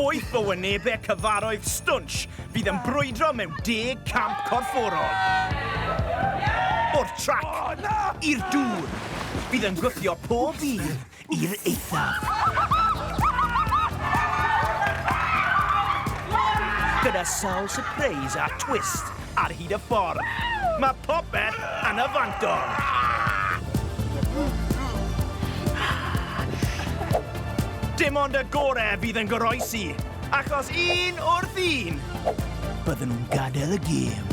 O'i bywynebau cyfarodd Stwnsh fydd yn brwydro mewn deg camp corfforol. O'r trac i'r dŵr, bydd yn gwthio pob dydd i'r eithaf. Gyda sawl sypreis a twist, ar hyd y ffordd. Mae popeth yn y fantol! Dim ond y gore fydd yn goroesi, achos un wrth un, bydden nhw'n gadael y gêm.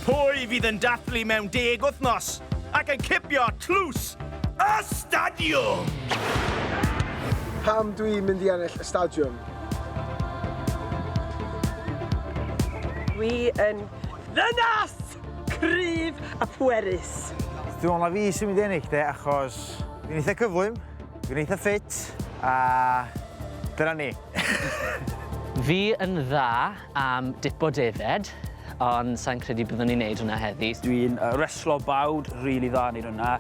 Pwy fydd yn dathlu mewn deg wythnos ac yn cipio tlws Y Stadiwm! Pam dwi'n mynd i ennill y Stadiwm? Dwi yn ddynas cryf a phwerus. Dwi'n meddwl na fi sy'n mynd i ennill de achos dwi'n eitha cyflym, dwi'n eitha ffit a dyna ni. Fi yn dda. am dipo defaid, ond sai'n credu byddwn ni'n neud hwnna heddi. Dwi'n reslo bawd rili dda neud hwnna.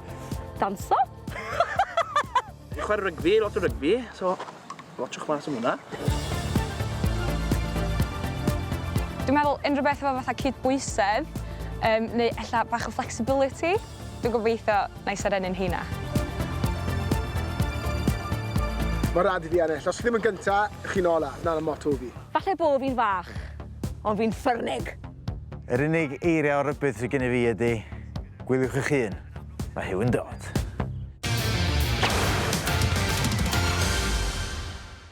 Danso? Fi'n chwarae rygbi, lot o rygbi, so watsiwch mas am hwnna. Dwi'n meddwl unrhyw beth efo fatha cydbwysedd, neu ella bach o flexibility. Dwi'n gobeithio na i serennu'n heina. Mae'n rhaid i fi ennill. Os chi ddim yn gynta, chi'n ola. Dyna'r motto fi. Falle bo fi'n fach, ond fi'n ffyrnig! Yr unig eiriau o rybudd sydd gennyf fi ydy, Gwyliwch eich hun, mae Huw yn dod.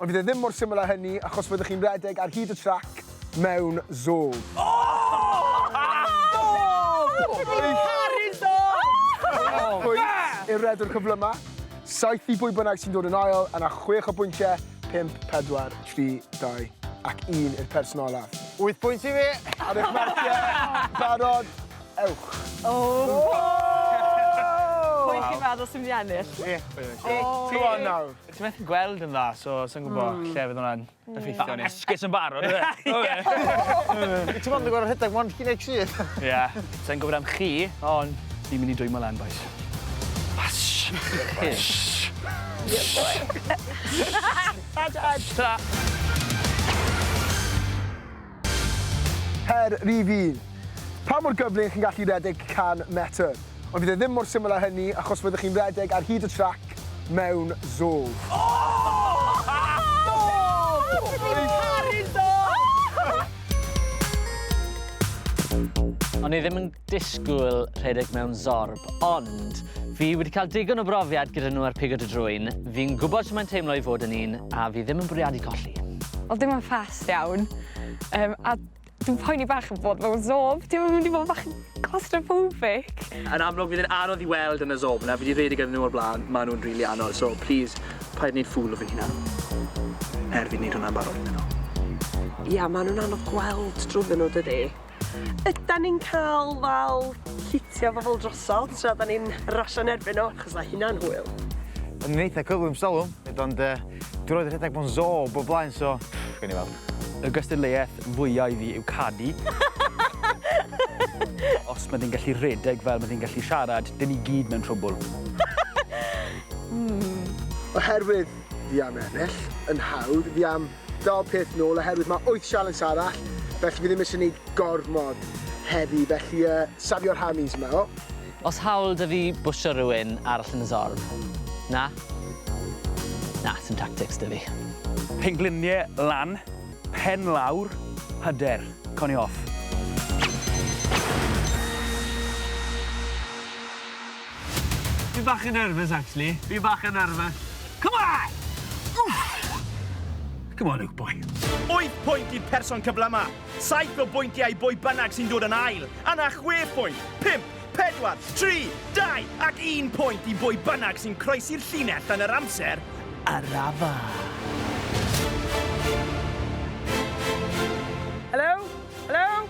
Ond fydd e ddim mor syml â hynny achos fyddwch chi'n rhedeg ar hyd y trac mewn zôf. Pwy yw'r rhedwr cyflyma? Saith i bwy bynnag sy'n dod yn ail yna chwech o bwyntiau, pump, pedwar, tri, dau ac un i'r person olaf. Wyth pwynt i fi! Ar eich marciau, barod, ewch! Pwy chi'n meddwl sy'n mynd i ennill? Fi. Fi. Go on nawr. Ti methu gweld yn dda, so sai'n gwbo lle fydd hwnna'n effeithio arni. Ma'n esgus yn barod on'd yw e? Ti mond yn gor'o' rhedeg one chi next year. Ia. Sai'n gwbod am chi, on' fi myn' i dwymo lan bois. Sh! Sh! Sh! Tara. Her rhif un. Pa mor gyflym chi'n gallu rhedeg 100 metr? Ond fydd e ddim mor syml â hynny achos fyddwch chi'n rhedeg ar hyd y trac mewn zôl. O'n i ddim yn disgwyl rhedeg mewn zorb, ond fi wedi cael digon o brofiad gyda nhw ar pigo dy drwyn, fi'n gwybod sy'n mae'n teimlo i fod yn un, a fi ddim yn bwriadu colli. Oedd dim yn ffast iawn, um, a dwi'n poeni bach yn bod mewn zob, dim yn mynd i fod bach yn claustrophobic. Yn amlwg, fydd yn anodd i weld yn y zob yna, fi wedi rhedeg yn nhw o'r blaen, maen nhw'n rili really anodd, so please, paid wneud ffwl o fi hynna. Er fi'n wneud hwnna'n barod iddyn nhw. Ia, maen nhw'n anodd gweld drwyddyn nhw, dydy. Ydan ni'n cael fel llithio bobl drosodd tra da ni'n rasio yn erbyn nhw, achos mae hynna'n hwyl. O'n i'n eitha cyflym stalwm, ond uh, dwi'n rhoi rhedeg bo'n zo o bob blaen, so gawn ni weld. Y gystadleuaeth fwyaf i fi yw canu. Os mae di'n gallu rhedeg fel mae di'n gallu siarad, dyn ni gyd mewn trwbl. mm. Oherwydd fi am ennill, yn hawdd fi am Dau peth nôl oherwydd mae wyth sialens arall felly fi ddim isie neud gormod heddi felly yy safio rhamis yma o. O's hawl 'da fi bwsio rywun arall yn y zorf? Na? Na, sim tactics 'da fi. Penglinie lan, pen lawr, hyder. Conio off. Fi bach yn nervous actually. Fi bach yn nervous. Come on! Oof! Come on Luke boy. Wyth pwynt i'r person cyflyma. Saith o bwyntiau i bwy bynnag sy'n dod yn ail. Yna chwe phwynt, pump, pedwar, tri, dau ac un pwynt i bwy bynnag sy'n croesi'r llinell yn yr amser arafach.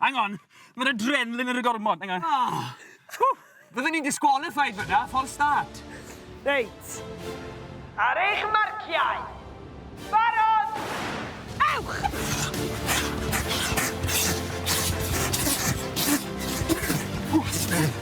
Hang on, ma'r adrenaline ar y gormod, hang on. Oh. Fydden ni'n disqualified fyna, false start. Reit. Ar eich marciau. Barod! Ewch! Ww,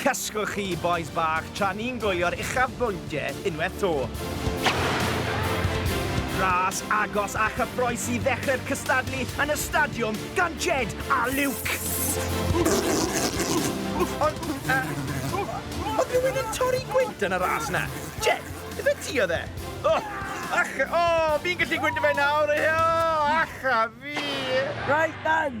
Cysgwch chi bois bach tra ni'n gwylio'r uchafbwyntiau unwaith 'to. Ras agos a chyffrous i ddechrau'r cystadlu yn y stadiwm gan Jed a Luke. Ond, uh, oedd rhywun yn torri gwynt yn y ras na? Jed, ife ti oedd e? O, ach, o, fi'n gallu gwynt fe nawr, o, ach a fi. Right then!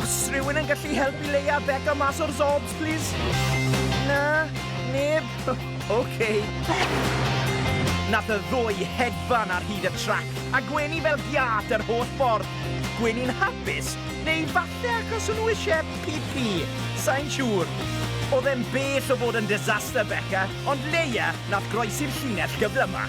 Os rhywun yn gallu helpu Leia a Beca mas o'r Zorbs, plis? Na? Neb? Oce. Nath y ddwy hedfan ar hyd y trac a gwenu fel giât yr holl ffordd. Gwenu'n hapus? Neu falle achos o'n nhw isie pî-pî? Sai'n siŵr. O'dd e'n bell o fod yn disaster, Beca, ond Leia nath groesi'r llinell gyflyma'.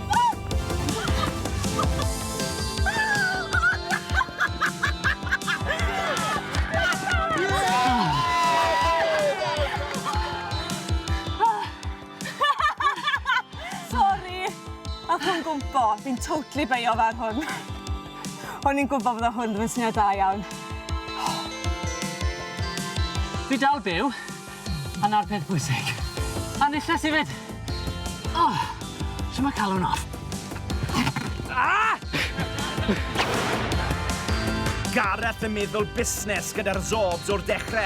fi'n totally beio ar hwn. O'n i'n gwybod bod o hwn ddim yn syniad da iawn. Fi dal byw. A 'na'r peth bwysig. A nillles i 'fyd! O! Shwt ma' calon off? Gareth yn meddwl busnes gyda'r Zorbs o'r dechre.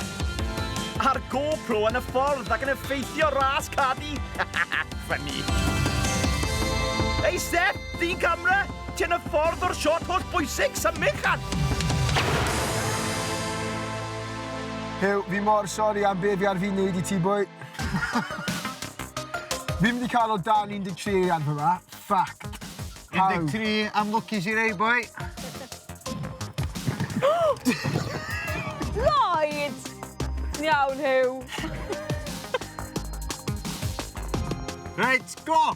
A'r GoPro yn y ffordd ac yn effeithio ras Cardi! Funny. Ei Steff! Ddyn camera! Ti yn y ffordd o'r shot holl bwysig! Symud, llan! Huw, fi mor sori am be fi ar fin neud i ti boi. Fi'm di cael o dan 13 eiliad fel 'na. Ffyc. 13 am lwcis i rei boi. Lloyd! Ti'n iawn Huw? Reit, go!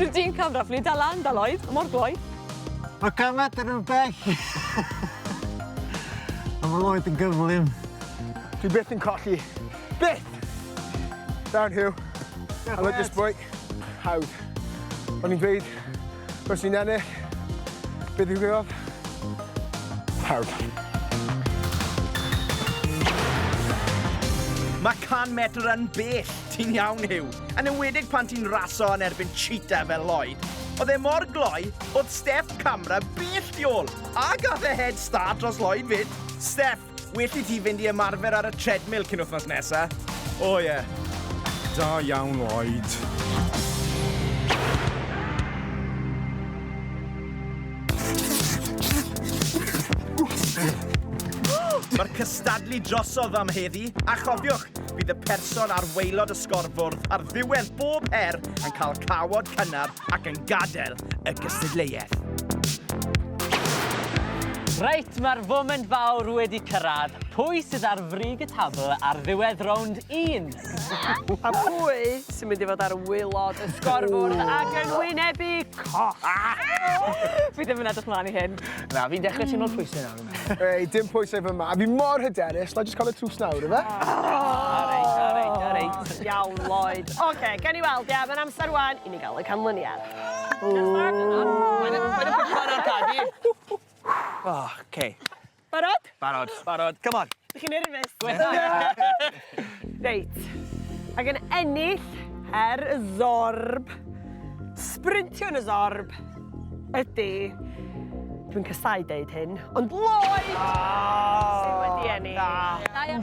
Rydyn ni'n camdraflu da lan, da loed, mor gloi. Mae camed yn un bell. A mae loed yn gyflym. Dwi byth yn colli. Byth! Down Huw. Diolch mêt. I love this boy. Hawdd. O'n i'n gweud Os fi'n ennill, be ddigwyddodd? Pawb. Mae 100 metr yn bell, ti'n iawn Huw, yn enwedig pan ti'n raso yn erbyn cheetah fel Lloyd. Oedd e mor gloi, oedd Steph Camra bell tu ôl, a gath e head start dros Lloyd fyd. Steph, Well i ti fynd i ymarfer ar y treadmill cyn wythnos nesa. O oh, ie. Yeah. Da iawn, Lloyd. Mae'r cystadlu drosodd am heddi, a chofiwch, bydd y person ar waelod y sgorfwrdd ar ddiwedd bob her yn cael cawod cynnar ac yn gadael y gystadleuaeth. Reit, mae'r foment fawr wedi cyrraedd. Pwy sydd ar frig y tabl ar ddiwedd rownd un? A pwy sy'n mynd i fod ar wylod y sgorfwrdd ac yn wynebu cos? Fi ddim yn edrych mlaen i hyn. Na, fi'n dechrau ti'n teimlo'r pwysau nawr. Ei, dim pwysau fy yma. A fi mor hyderus, na jyst cael y trws nawr, efe? Areit, areit, areit. Iawn, Lloyd. Oce, gen i weld, ia, mae'n amser wan I ni gael y canlyniad. Oce. Barod? Barod. Barod. Come on. Dych chi'n nerfus? Gwetha! Reit. Ac yn ennill her y Zorb, sprintio yn y Zorb, ydy... Dwi'n casau deud hyn, ond Lloyd! Sydd wedi ennill. Da iawn.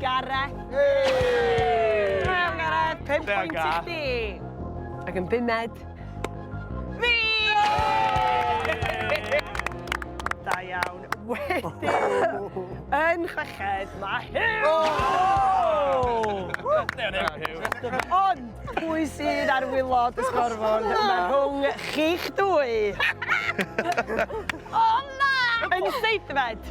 Gareth! Hei! Da iawn Gareth! Pump pwynt i chdi! Ac yn bumed, fi! Da iawn. Wedyn, yn chweched, mae Huw! O! Da iawn Huw. Ond, pwy sydd ar wylod y sgorfôn? Mae rhwng chi'ch dwy. O na! Yn seithfed,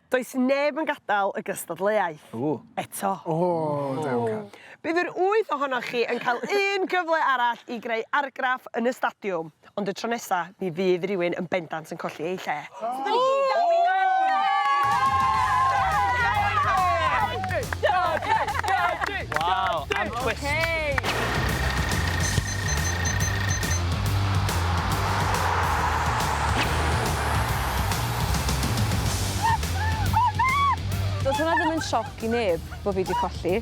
Does neb yn gadael y gystadleuaeth eto. Bydd yr wyth ohonoch chi yn cael un gyfle arall i greu argraff yn y stadiwm, ond y tro nesa mi fydd rhywun yn bendant yn colli eu lle. Go Cymru! Twist. Does hwnna ddim yn sioc i neb bo' fi 'di colli.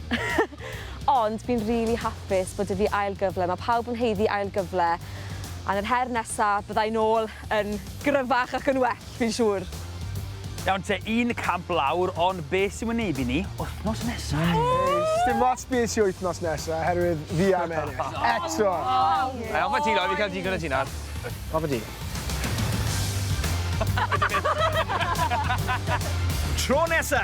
Ond fi'n rili hapus bod 'da fi ail gyfle, ma' pawb yn haeddu ail gyfle, a yn yr her nesa, bydda i nôl yn gryfach ac yn well. Fi'n siŵr. Iawn te, un camp lawr, ond be' sy'n wynebu ni wthnos nesa? Ei, sdim ots be' sy wythnos nesa, oherwydd fi am ennill. Eto! Ei, offa ti Loi, fi'n cael digon o ti nawr. Offa ti. Tro nesa!